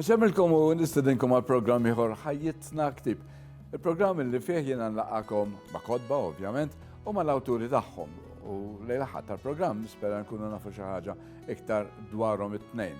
Nxemmilkom u nistedinkom għal programm ieħor ħajjitna ktib. Il-programm li fih jiena nlaqakom ma' kodba ovvjament u ma' l-awturi tagħhom. U lejla ħadd tal-programm nispera nkunu nafu xi ħaġa iktar dwarhom it-tnejn.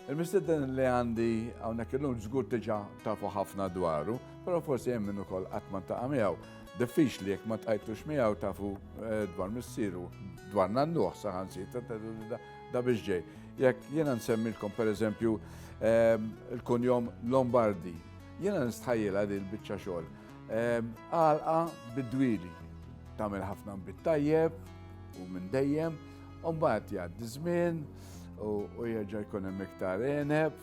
Il-mistieden li għandi hawnhekk illum żgur diġà tafu ħafna dwaru, però forsi hemm min ukoll qatt ma ntaqa' miegħu. Diffiċli jekk ma tqajtux miegħu tafu eh, dwar missieru, dwar nannuh saħansitra da biex ġej. Jekk jiena nsemmilkom pereżempju ehm, il-kunjom Lombardi, jiena nistħajjilha din biċċa xogħol. Ehm, għalqa bid-dwili tagħmel ħafna bit-tajjeb u minn dejjem, u mbagħad jgħaddi żmien, u jerġa' jkun hemm iktar eneb,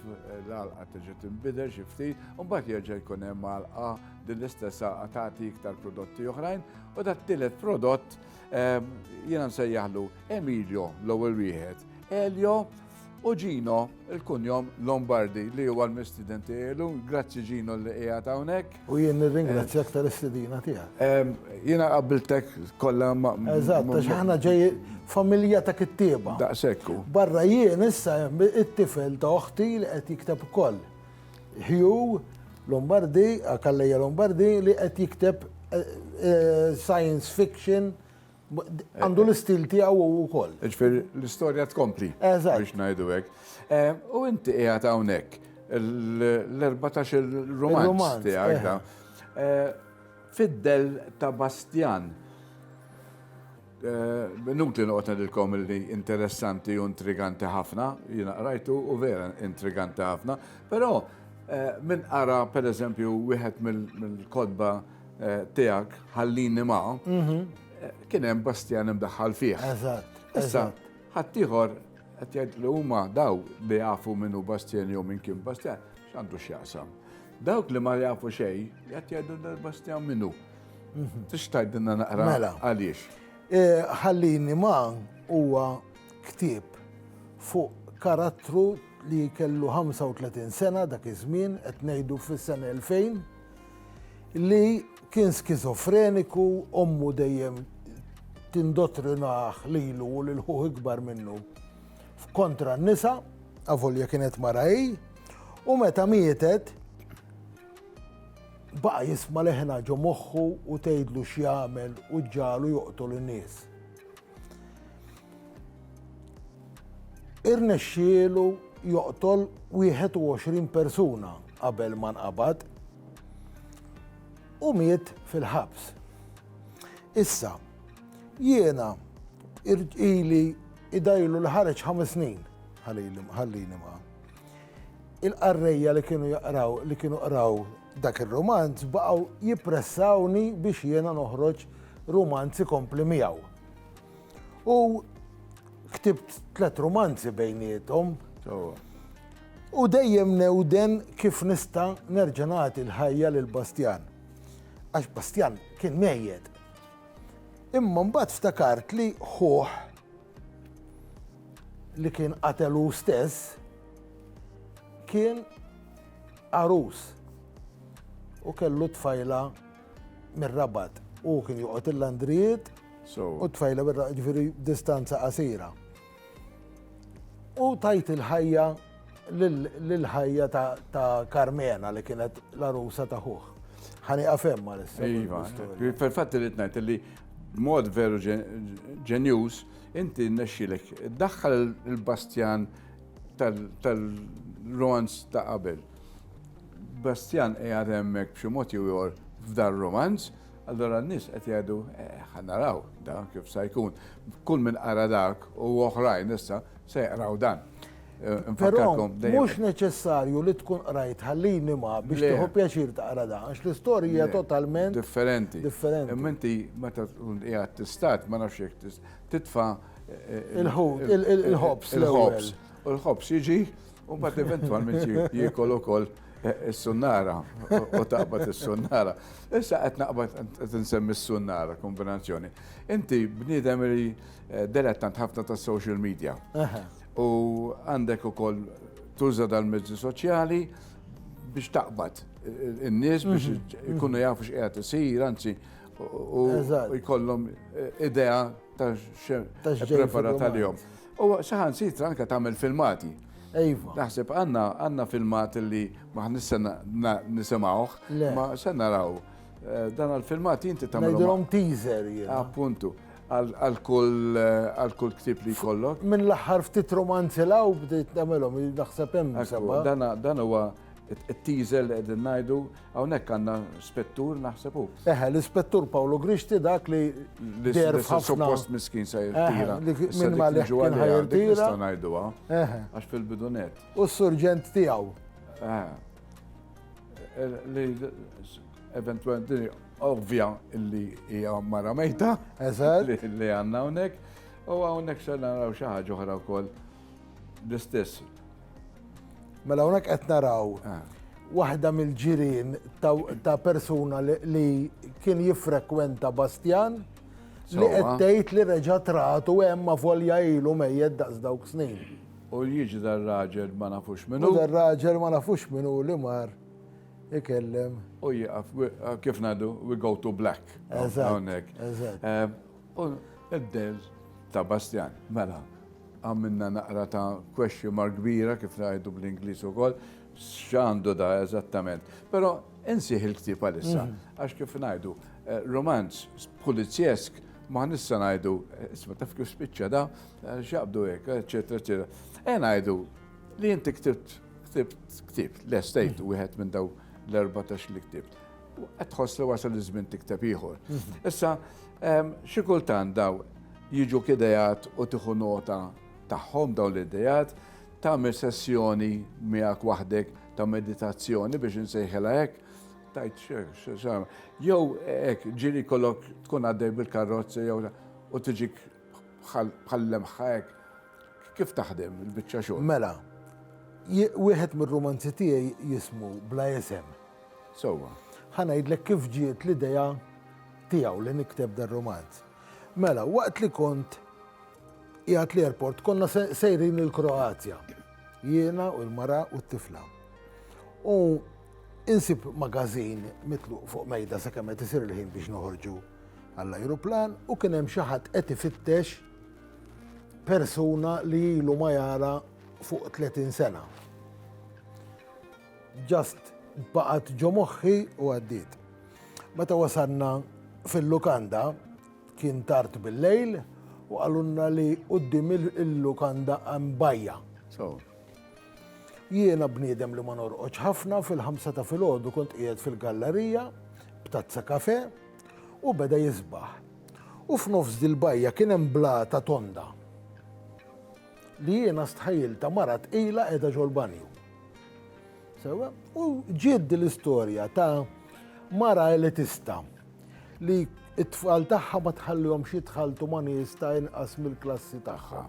l-alqa tiġi tinbidel xi ftit, u mbagħad jerġa' jkun hemm alqa din l-istess alqa tagħti iktar prodotti oħrajn u dat tielet prodott ehm, jiena nsejjaħlu Emilio l-ewwel wieħed, Elio u Gino il-kunjom Lombardi li huwa l-mistidenti elu, grazzi Gino li qiegħed hawnhekk. U jien nirringrazzjak tal-istedina tiegħek. Jiena qabbiltek kollha ma. Eżatt, għax aħna ġej familja ta' kittieba. Daqsekku. Barra jien issa it-tifel ta' oħti li qed jikteb ukoll. Hugh Lombardi, Kalleja Lombardi li qed jikteb eh, eh, science fiction Għandu l-istil tiegħu u wkoll. Ġifier l-istorja tkompli. Eżatt. Biex ngħidu hekk. Eh, u inti qiegħed hawnhekk l-14 il-romanz tiegħek da. Eh. Eh, Fiddel ta' Bastjan. Nutli noqgħod ngħidilkom li interessanti u intriganti ħafna, jiena qrajtu u vera intriganti ħafna, però minn qara pereżempju wieħed mill-kodba eh, tiegħek ħallini ma' mhm. eh, kien hemm Bastjan imdaħħal fih. Eżatt. Issa ħaddieħor qed jgħid li huma daw li jafu minn hu Bastjan jew minn kien Bastjan x'għandu x'jaqsam. Dawk li ma jafu xejn qed jgħidu Bastjan minnu. Mhm. Tix tgħidilna naqra mela. għaliex. Eh, ħallini ma' huwa ktieb fuq karattru li kellu 35 sena dak iż-żmien qed ngħidu fis-sena 2000 li kien skizofreniku, ommu dejjem tindottrinah lilu u lil ħuh ikbar minnu f'kontra n-nisa, avolja kienet mara hi, u meta mietet baqa' jisma' leħna ġo moħħu u tgħidlu x'jagħmel u ġġalu joqtol in-nies. Irnexxielu joqtol 21 persuna qabel ma nqabad u miet fil-ħabs. Issa, jiena irġili idajlu li ħareġ ħames snin ħallini ma. Il-qarrejja li kienu jaqraw, li kienu qraw Dak ir-rumanz baqgħu jippressawni biex jiena noħroġ rumanz ikompli miegħu. U ktibt tliet rumanzi bejniethom. U dejjem newden kif nista' nerġa' nagħti l-ħajja lil Bastjan. Għax Bastjan kien mejjed. Imma mbagħad ftakart li ħuh li kien qatel hu stess kien għarus u kellu tfajla mir-rabat. U kien joqgħod il-landrijiet u tfajla mir-rabat ġifieri distanza qasira. U tajt il-ħajja l-ħajja ta' Carmena li kienet l-arusa ta' ħuħ. Ħani għafem ma l-istorja. Iva, fil-fatti li t-najt li mod veru ġenjus, inti nexxilek, daħħal il-bastjan tal-romanz ta' qabel. Bastjan qiegħed hemmhekk b'xi mod jew f'dar romanz, allora n-nies qed jgħidu eh, ħanaraw da kif sa jkun. Kull minn qara dak u oħrajn issa se jqraw dan. Però mhux neċessarju li tkun qrajt ħallini ma biex tieħu pjaċir taqra dan, għax l-istorja hija totalment differenti. Differenti. Imma inti meta tkun qiegħed tistat ma nafx jekk titfa' il-ħut, il-ħobs, il-ħobs. U l-ħobs jiġi u mbagħad eventwalment jiekol ukoll is-sunnara u taqbad is-sunnara. Issa qed naqbad qed insemmi s-sunnara kombinazzjoni. Inti bniedem li delettant ħafna tas-social media. U għandek ukoll tuża dal-mezzi soċjali biex taqbad in-nies biex mhm. ikunu jafu x'qiegħed isir, anzi u jkollhom eh, idea ta' prepara tal-jom. U saħan sitra anka tagħmel filmati. Ejva. Naħseb għanna għanna filmat li ma nissan nisimawħ, ma sen naraw. Eh, dan għal-filmat jinti tamlu. Najdrom teaser. Appuntu. Għal kull ktieb li jkollok. Minn l-aħħar ftit romanzi law bdejt nagħmelhom, naħseb hemm seba'. Dan huwa t-teaser li qegħdin ngħidu, hawnhekk għandna spettur naħseb hu. Eħe, l-ispettur Pawlu Grixti dak li deher f'ħafna. Suppost miskin se jirtira. Minn ma li ġu għalli jirtira. Nista' ngħiduha. Eħe. Għax fil-bidunet. U s-surġent tiegħu. Eħe. Li eventualment Ovvja li hija mara mejta. Eżatt. Li għandna hawnhekk. U hawnhekk se naraw xi ħaġa oħra wkoll l-istess. Mela hawnhekk qed naraw ah. waħda mill-ġirien ta' persuna li kien jiffrekwenta Bastjan li qed tgħid li reġa' tratu hemm ma volja ilu mejjed daqs dawk snin. U jiġi dar-raġel ma nafux minnu. Dar-raġel ma nafux minnu li mar Ikellem. U jieqaf, kif ngħidu, we go to black. Hawnhekk. Id-del ta' Bastjan, mela, għamilna naqra ta' question mark kbira kif ngħidu bl-Ingliż ukoll, x'għandu da eżattament. Però insih il-ktieb għalissa, mhm. għax kif ngħidu, eh, romanz pulizjesk ma nista ngħidu, eh, isma taf kif spiċċa da, eh, xaqbdu hekk, eċetera, eċetera. E ngħidu Li inti ktibt, ktibt, ktibt, l-estate u wieħed minn daw l-14 li ktibt. Qed tħoss li wasal iż-żmien tikteb ieħor. Mhm. Issa, ehm, xi kultant daw jiġu kidejat u tieħu nota tagħhom dawn l-idejat, tagħmel sessjoni miegħek waħdek ta' meditazzjoni biex insejħela hekk, tajt xex, jew hekk ġiri kollok tkun għaddej bil-karrozza jew u tiġik bħall-lemħa hekk, kif taħdem il-biċċa xogħol? Mela, wieħed mir-rumanzi tiegħi jismu Bla Isem. Sewwa. Ħa ngħidlek kif ġiet l-idea tiegħu li nikteb dar-rumanz. Mela, waqt li kont jgħat l-airport konna sejrin il-Kroazja. Jiena u l-mara u t-tifla. U insib magazin mitluq fuq mejda sa' kemm qed isir il-ħin biex noħorġu għall-ajruplan u kien hemm xi ħadd qed ifittex persuna li ilu ma jara fuq 30 sena. Ġast baqgħet ġo moħħi u għaddiet. Meta wasanna fil-lukanda kien tard bil-lejl u għalunna li qudiem il-lukanda għam bajja. Jiena bniedem li ma norqodx ħafna, fil-ħamsa ta' filgħodu kont qiegħed fil-gallarija b'tazza kafè u beda jisbaħ. U f'nofs dil-bajja kien hemm blata tonda li jiena stħajilta mara tqila qiegħda ġol-banju. Sewa, u ġiet l-istorja ta' mara elitista li t-tfal tagħha ma tħallihomx jitħalltu ma' nies ta' inqas mill-klassi tagħha.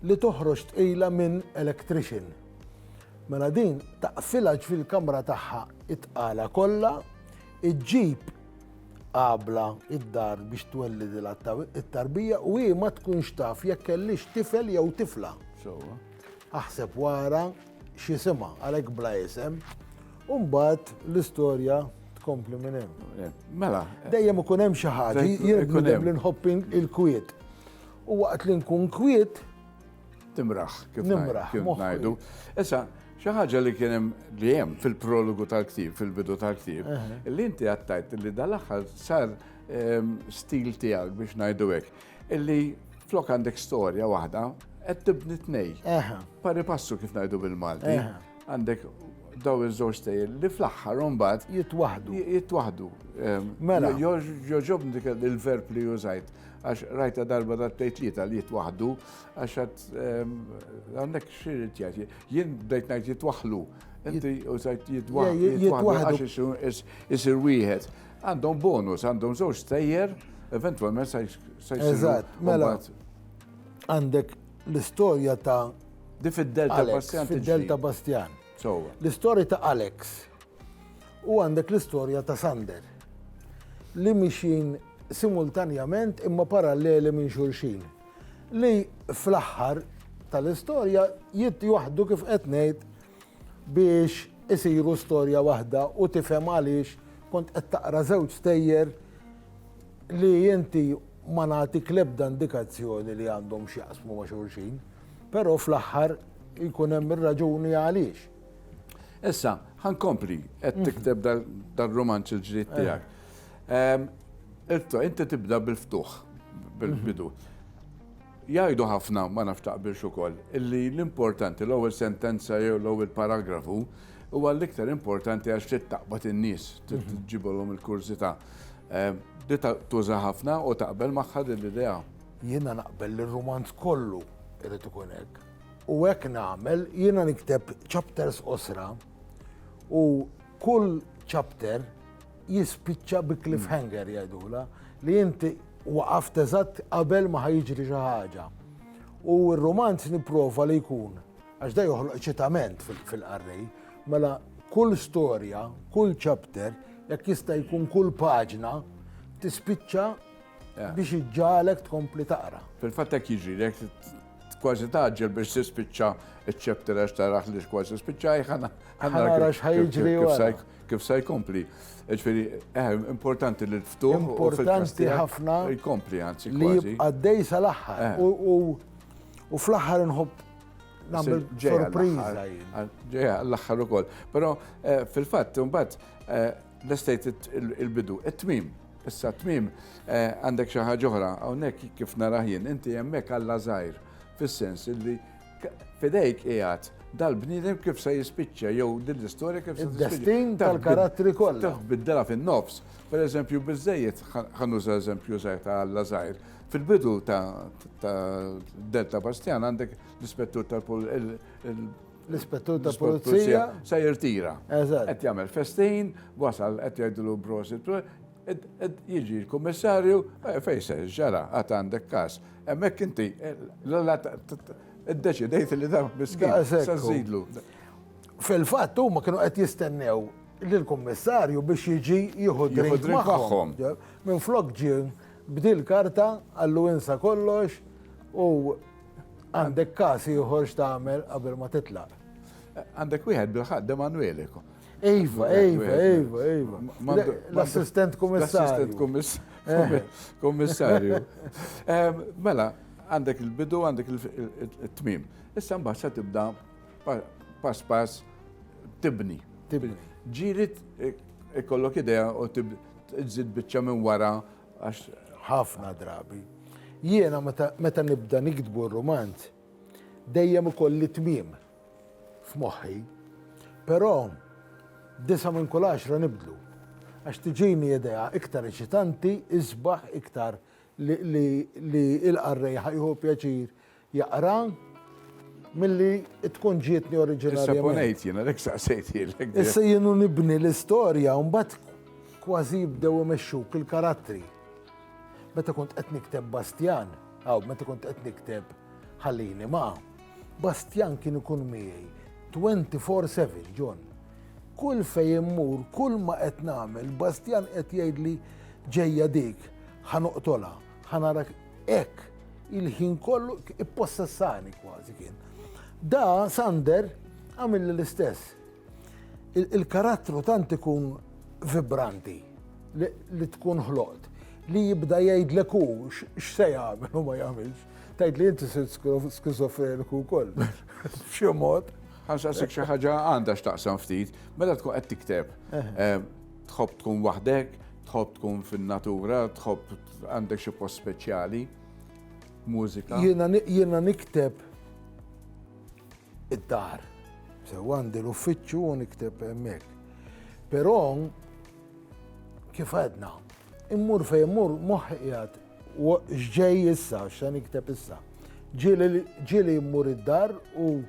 Li toħroġ tqila minn electrician. Mela din taqfilha fil-kamra tagħha it-tqala kollha, iġġib qabla id-dar biex twellid it-tarbija u hi ma tkunx taf jekk kellix tifel jew tifla. Aħseb wara x'isimha għalhekk bla isem, u mbagħad l-istorja tkompli minn hemm. Mela. Dejjem ikun hemm xi ħaġa, jien li nħobbing il-kwiet. U waqt li nkun kwiet, timraħ kif ngħidu. Issa, xi ħaġa li kien hemm li hemm fil-prologu tal-ktib, fil-bidu tal-ktib, li inti għattajt li dal-aħħar sar ehm, stil tiegħek biex ngħidu hekk. Illi flok għandek storja waħda, qed tibni tnej. Pari passu kif ngħidu bil-Malti. Għandek daw iż-żewġ tejl li fl-aħħar mbagħad jitwaħdu. Jitwaħdu. Ehm, mela. Joġobni dik il-verb li użajt għax rajta darba dat tejt li tal jitwaħdu għax għat ehm, għandek xirrit jgħati. Jien bdejt ngħid jitwaħlu. Inti użajt jitwaħdu għax isir wieħed. Għandhom bonus, għandhom żewġ stejjer, eventwalment sa jsiru. Eżatt, mela. Għandek l-istorja ta' Di fid-Delta Bastjan. Fid-Delta Bastjan. L-istorja ta' Alex u għandek l-istorja ta' Sander li mixin simultanjament imma paralleli minn xulxin li fl-aħħar tal-istorja jitt joħdu kif qed ngħid biex isiru storja waħda u tifhem għaliex kont qed taqra żewġ stejjer li inti ma nagħtik l-ebda indikazzjoni li għandhom x'jaqsmu ma' xulxin, però fl-aħħar jkun hemm ir-raġuni għaliex. Issa, ħankompli qed mhm. tikteb dal-romanz il-ġdid eh. tiegħek. Ehm, Irto, inti tibda bil-ftuħ, bil-bidu. Mhm. Jgħidu ħafna, ma nafx taqbilx ukoll, illi l-importanti, l-ewwel sentenza jew l-ewwel paragrafu, huwa l-iktar importanti għax trid taqbad in-nies, trid tġibolhom il-kurżità. Di tuża ħafna u taqbel magħha din l-idea? Jiena naqbel li r-rumanz kollu irid ikun hekk. U hekk nagħmel, jiena nikteb chapters qosra u Kull chapter jispiċċa bi cliffhanger jgħidula li inti waqaft eżatt qabel ma ħajġri xi ħaġa. U r-romanz nipprova li jkun għax da joħloq ċitament fil-qarrej, mela kull storja, kull chapter, jekk jista' jkun kull paġna tispiċċa biex iġġalek tkompli taqra. Fil-fatt hekk jiġri, Kważi tgħaġġel biex tispiċċa ċ-chapter għax taraħ li kważi spiċċaj ħana kif se jkompli. Ġifieri, eh, importanti li l-ftuħ. Importanti ħafna. Jkompli anzi. Li għaddej sal-aħħar. Eh. U fl-aħħar nħobb nagħmel sorpriża. Ġeja l-aħħar ukoll. Però eh, fil-fatt imbagħad l-estate il-bidu, it-tmim. Issa t-tmiem għandek xi ħaġa oħra, hawnhekk kif narah jien, inti hemmhekk Alla żgħir, fis-sens illi f'idejk qiegħed dal-bniedem kif se jispiċċa jew din l-istorja kif se tispiċċa. Id-destin tal-karattri kollha. Taf biddela fin-nofs. Pereżempju biżejjed ħa nuża eżempju żgħir ta' Alla żgħir. Fil-bidu ta' Delta Bastjan għandek l-ispettur tal-pol L-ispettur ta' pulizija. Se jirtira. Eżatt. Qed jagħmel festin, wasal qed jgħidlu prosit, jiġi l-kummissarju, eh, fejse, ġara, għad għandek kas. Hemmhekk inti, eh, l-għala id-deċidejt li dan miskin. Sażidlu. Fil-fatt huma kienu qed jistennew lill-kummissarju biex jiġi jieħu drink magħhom. Minn flok ġie bdil karta għallu insa kollox u Għandek każ ieħor x'tagħmel qabel ma titlaq. Għandek wieħed bil-ħadd Emanuele. Ejva, ejva, ejva, ejva. L-assistent kummissarju. Kummissarju. Eh. Mela, għandek il-bidu, għandek il-tmim. Issa mbagħad se tibda pass pass tibni. Tibni. Ġirit ikollok idea u tibda tżid biċċa minn wara Għax ħafna drabi. Jiena meta nibda niktbu r-rumanz, dejjem ikolli tmiem f'moħħi, però disa' minn kull għaxra nibdlu. Għax tiġini idea iktar eċitanti, isbaħ iktar li l-qarrej ħa jieħu pjaċir jaqra milli tkun ġietni oriġinarjament. Issa ponejt jiena, lek saqsejt jilek. Issa jienu nibni l-istorja, mbagħad kważi jibdew imexxuk il-karattri. Meta kont qed nikteb Bastjan, aw meta kont qed nikteb ħallini ma' Bastjan kien ikun miegħi 24/7 John. Kull fej immur, kull ma qed nagħmel, Bastjan qed jgħidli ġejja dik, ħanoqtolha, ħanarak Ek, il-ħin kollu ippossessani kważi kien. Da Sander għamil l-istess. Il-karattru tant ikun vibranti li tkun ħloqt li jibda jgħidlek hu x'se jagħmel u ma jagħmilx. Tgħid li inti sirt skizofreniku wkoll. Xi mod. Ħansaqsik xi ħaġa għandha x'taqsam ftit, meta tkun qed tikteb. Eh. Eh, Tħobb tkun waħdek, tħobb tkun fin-natura, tħobb għandek xi post speċjali, mużika. Jiena jiena nikteb id-dar. Sew għandi l-uffiċċju u nikteb hemmhekk. Però kif għedna, immur fejn immur moħħi qiegħed U x'ġej issa, x'se nikteb issa? Ġieli mmur id-dar u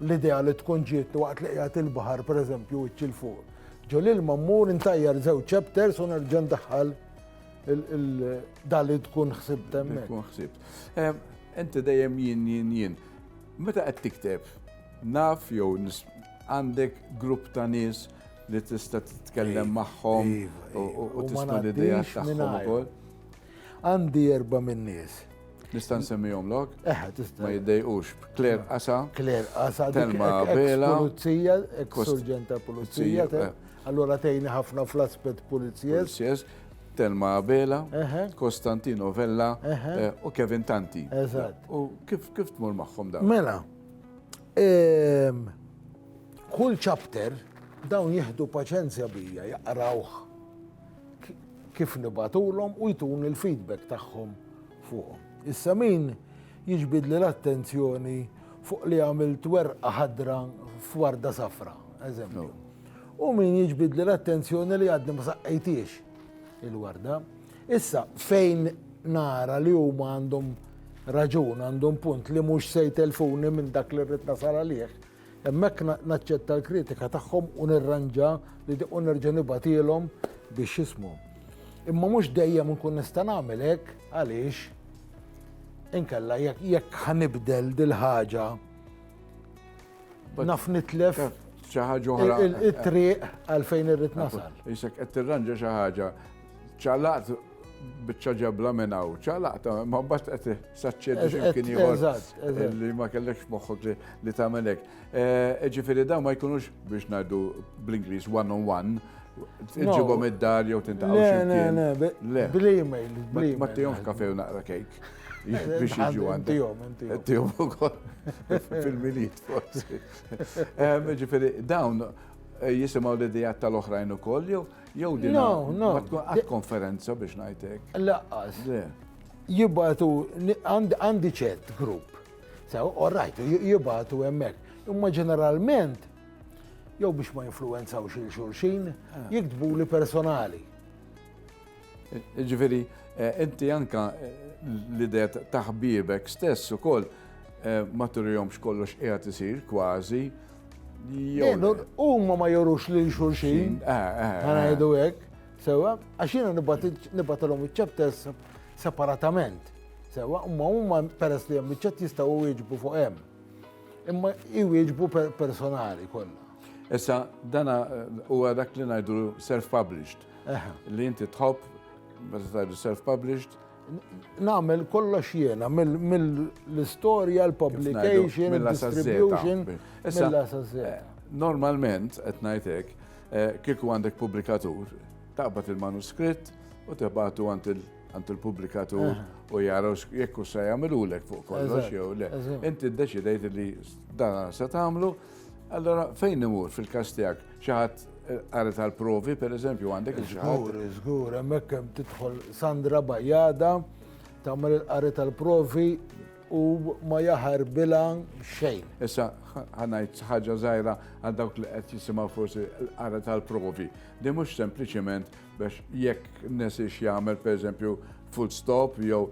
l-idea li tkun ġiet waqt li qiegħed il-baħar pereżempju wiċċ il fuq. Ġo l-ilma mmur intajjar żewġ chapters u nerġa' ndaħħal dan li tkun ħsibt hemmhekk. Tkun ħsibt. Inti dejjem jien jien jien. Meta qed tikteb, naf jew għandek grupp ta' nies li tista' titkellem magħhom iva, iva. u tista' l-idea tagħhom ukoll. Għandi erba' min-nies. Nista' nsemmihomlok? Eħe, eh, tista'. Ma jiddejqux. Kler Qasa. Kler Qasa. Telma Bela. Pulizija, ex surġenta pulizija. Eh. Allora tejni ħafna fl-aspett pulizjes. Telma Abela, Kostantino Vella eh, u Kevin Tanti. Eżatt. U kif kif tmur magħhom dawn? Mela, ehm, kull chapter dawn jieħdu paċenzja bija jaqrawh. kif nibatulhom u jtuni l-feedback tagħhom fuqhom. Issa min jiġbidli l-attenzjoni fuq li għamilt werqa ħadra f'warda safra, eżempju. U min jiġbidli l-attenzjoni li għadni ma saqqejtiex il-warda. Issa fejn nara li huma għandhom raġun, għandhom punt li mhux se jtelfuni minn dak li rrid nasal għalih, Hemmhekk naċċetta l-kritika tagħhom u nirranġa li u nerġa' nibgħatilhom biex jismu. Imma mhux dejjem nkun nista' nagħmel hekk għaliex inkella jekk ħanibdel dil-ħaġa naf nitlef xi ħaġa oħra. Il-triq għalfejn irrid nasal. Isek qed tirranġa xi ħaġa ċalaqt biċċa ġebla minn hawn, ċalaqta, ma mbagħad qed saċċedi x'imkien ieħor li ma kellekx moħħok li tagħmel hekk. Eh, ġifieri dawn ma jkunux biex ngħidu bl-Ingliż one on one, Iġibom id-dar jew tintaqgħu x'imkien. Le, le, le. Bl-email, bl-email. Ma tihomx kafe u naqra kejk. Biex jiġu għandhom. Tihom, tihom. Tihom ukoll fil-miliet forsi. Ġifieri dawn eh, jisimgħu l-idejat tal-oħrajn ukoll jew Jew din ma tkun għad konferenza biex ngħidlek. Laqqas. Jibatu għandi ċert grupp. Sew, all right, jibatu hemmhekk. Imma ġeneralment jew biex ma influenzaw xil xulxin, ah. jiktbu li personali. Ġveri, eh, inti anka eh, l-idea taħbibek stess u koll eh, ma turijomx kollox qiegħed isir kważi Huma ma jorux lil xulxin, eh, eh, eh. ħanajdu hekk, sewa, għax jiena nibatilhom iċ-chapters separatament. Sewa, imma huma peress li hemm iċ-chat jistgħu wieġbu fuq hemm. Imma jwieġbu personali kollha. Issa dana huwa dak li ngħidu self-published. Li inti tħobb meta tgħidu self-published Nagħmel kollox jiena mill-istorja, l-publication, il-distribution. Eh, normalment, qed ngħidlek, eh, kieku għandek pubblikatur, taqbad il-manuskritt u tibgħatu għand il- għand il-publikatur eh. u jaraw jekku sa jagħmilulek fuq kollox jew le. Inti ddeċidejt li dan se tagħmlu Allora, fejn imur fil-kas tiegħek xi ħadd qari eh, tal-provi, per eżempju, għandek il Żgur, żgur, hemmhekk hemm tidħol Sandra Bajada tagħmel il-qari tal-provi u ma jaħar bila xejn. Issa ħanajt ħaġa żgħira għal dawk li qed jisimgħu forsi l-qara tal-provi. Di mhux sempliċement Biex jekk nesiex jagħmel pereżempju full stop jew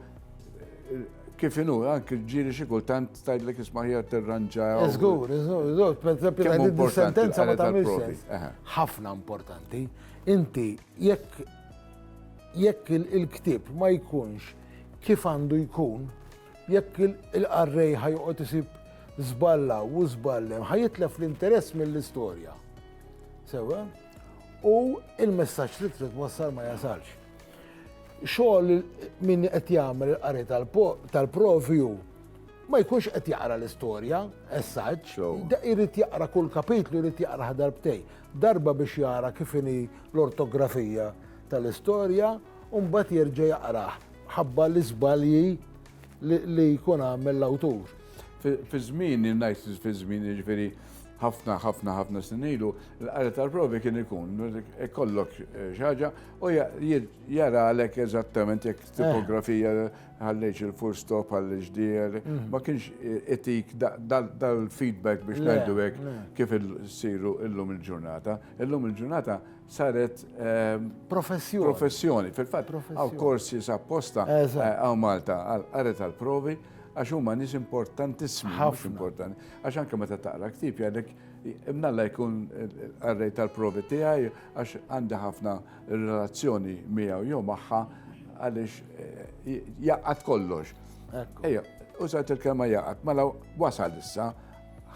kif inhu anke ġieli xi kultant tgħidlek isma' ħija tirranġa. Żgur, żgur, pereżempju tgħidli sentenza ma tagħmilx. Ħafna importanti. Inti jekk jekk il-ktieb ma jkunx kif għandu jkun, jekk il-qarrej ħajqgħod isib żballa u żballem, ħajitlef l-interess mill-istorja. Sewa? u il-messaġġ li trid wassal ma jasalx. Xogħol min qed jagħmel il-qari tal-provju ma jkunx qed jaqra l-istorja, essaġġ, irid jaqra kull kapitlu, irid jaqra darbtej. Darba biex jara kif inhi l-ortografija tal-istorja, u mbagħad jerġa' jaqrah ħabba l-iżbalji li jkun għamel l-awtur. Fi żmien, ngħid fi żmien, jiġifieri ħafna ħafna ħafna snin ilu, l-qari tal-provi kien ikun, ikollok eh, xaġa u jaralek eżattament jekk eh. tipografija ħallejx il-full stop għall ġdier mm. ma kienx eh, etik dal-feedback biex ngħidu hekk kif siru illum il-ġurnata. Illum il-ġurnata saret ehm, professjoni. Professjoni, fil-fatt, għaw korsi sapposta għaw Malta għal qari tal-provi Għax huma nies importantissimi, mhux importanti. Għax anke meta taqra ktib jgħidlek imnalla jkun għarrej tal-provi tiegħi għax għandi ħafna relazzjoni miegħu jew magħha għaliex eh, jaqgħad kollox. Ejja, użat il-kelma jaqgħad, mela wasal issa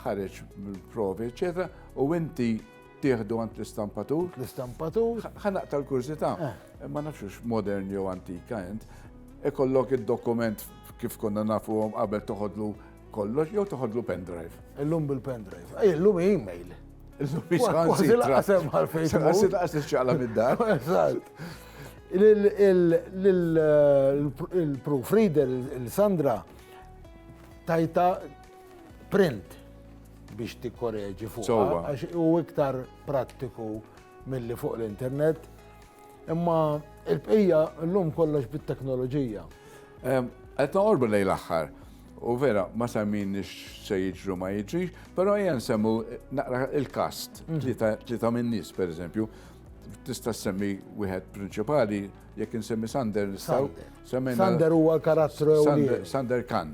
ħareġ mill-provi, eċetera, u inti tieħdu għand l-istampatur. L-istampatur. Ħa naqta l-kurżità. Eh. Ma nafx modern jew antika int. Ikollok id-dokument kif konna nafuhom qabel toħodlu kollox jew toħodlu pendrive. Illum bil-pendrive. Ej, illum email. Illum biex ħansi. Laqsem għal-fejn. Għassi laqsem xaqla mid-dar. Il-proofreader, il-Sandra, tajta print biex tikkoreġi fuq. Għax u iktar prattiku mill-li fuq l-internet. Imma il-bqija l-lum kollox bit-teknoloġija. Qed noqorbu lejn l-aħħar. U vera, ma semmin se jiġru ma jiġrix, pero jen semmu naqra il-kast, li mhm. ta' minn nis, per eżempju, tista' semmi wieħed prinċipali, jekk insemmi Sander nistaw. Sander huwa l-karattru Sander Kan.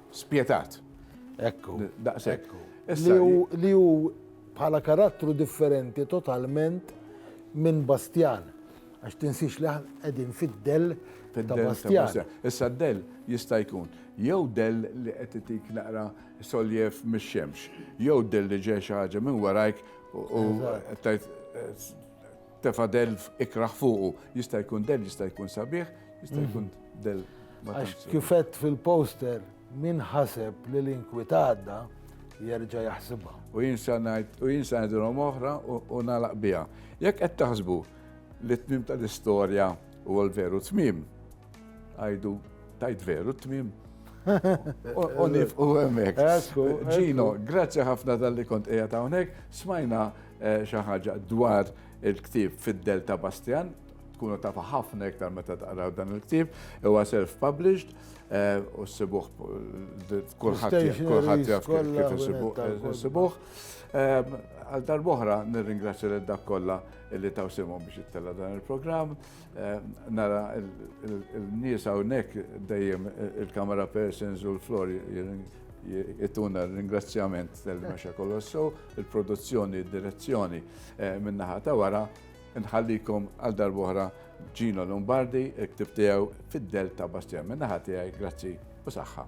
Spjetat. Ekku. Daqshekk. Li hu bħala karattru differenti totalment minn Bastjan. Għax tinsiex li qegħdin fid-dell ta' Bastjan. Issa d-dell jista' jkun jew dell li qed itik naqra soljef mix-xemx, jew dell li ġej xi ħaġa minn warajk u Tefa' dell ikrah fuqu. Jista' jkun dell, jista' jkun sabiħ, jista' jkun dell ma tantx sabiħ. Għax kif għedt fil-poster, min ħaseb li l-inkwit għadda, jerġa' jaħsibha. U jien sa ngħid, u jien sa ngħidilhom oħra u nagħlaq biha. Jekk qed taħsbu li t-tmiem tal-istorja huwa l-veru tmiem, għidu tajt veru t-tmiem. U nifqu hemmhekk. Ġino, grazzi ħafna tal-li kont qiegħed hawnhekk, smajna Eh, xi ħaġa dwar il-ktieb fid-del ta' Bastian, tkunu tafa ħafna iktar meta taqraw dan il-ktieb, huwa self-published eh, u s-sibuħ kulħadd jaf kif s-sibuħ. Eh, għal darboħra nirringrazzja lil dak kollha li taw simhom biex jittella dan il-programm. Nara il-nies hawnhekk dejjem il-camera persons u l-flor jittuna ringrazzjament tal-mexa kolossu. il-produzzjoni, id-direzzjoni min-naħa ta' wara, nħallikom għal darbohra Gino Lombardi, il-ktib tiegħu fid-del ta' Bastjan. Min-naħa tiegħi, grazzi u saħħa.